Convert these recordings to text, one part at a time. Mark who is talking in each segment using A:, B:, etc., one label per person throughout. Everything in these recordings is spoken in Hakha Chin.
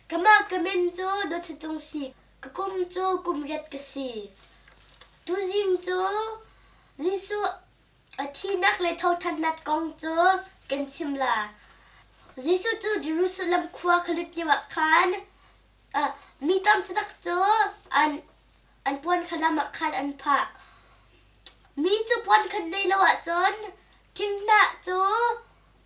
A: Keimah ka min cu Dawtthacung si. Ka kum cu kum riat ka si. Tuzing cu Jesuh a thihnak le thothannak kong cu kan chim la. Jesuh cu Jerusalem khua kha lut lioah khan ah mi tam taktak cu an an puan kha lam ah khan an phah. Mi cu puan khan nei lo ahcun thinghnah cu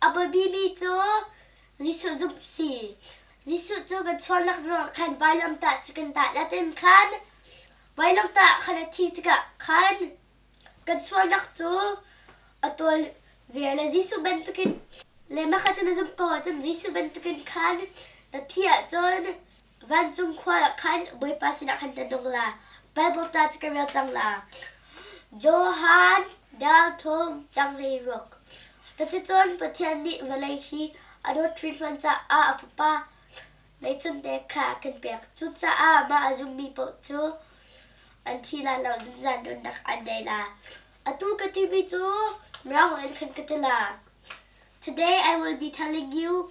A: A biapimi cu Jesuh zumh si. Jesuh cu kan sualnak ruangah khan vailamtah cu kan dah la tin khan vailamtah khan a thi tikah khan kan sualnak cu a tawl ve le Jesuh bantukin le mah kha cun na zumh ko ahcun Jesuh bantukin khan na thi ahcun Vancung khua ah khan Bawipa sinah khan ka nung la, Baibal ta cu ka rel cang la. Johan dal thum changhlei ruk. Cuticun Pathian nih vawlei hi a dawt hrinhran caah a Fapa leicunte kha kan pek. Cucaah mah a zummi paoh cu an thi lai lo zunzan nunnak an ngei lai. Atu ka timi cu mirang in khan ka ti la. Today I will be telling you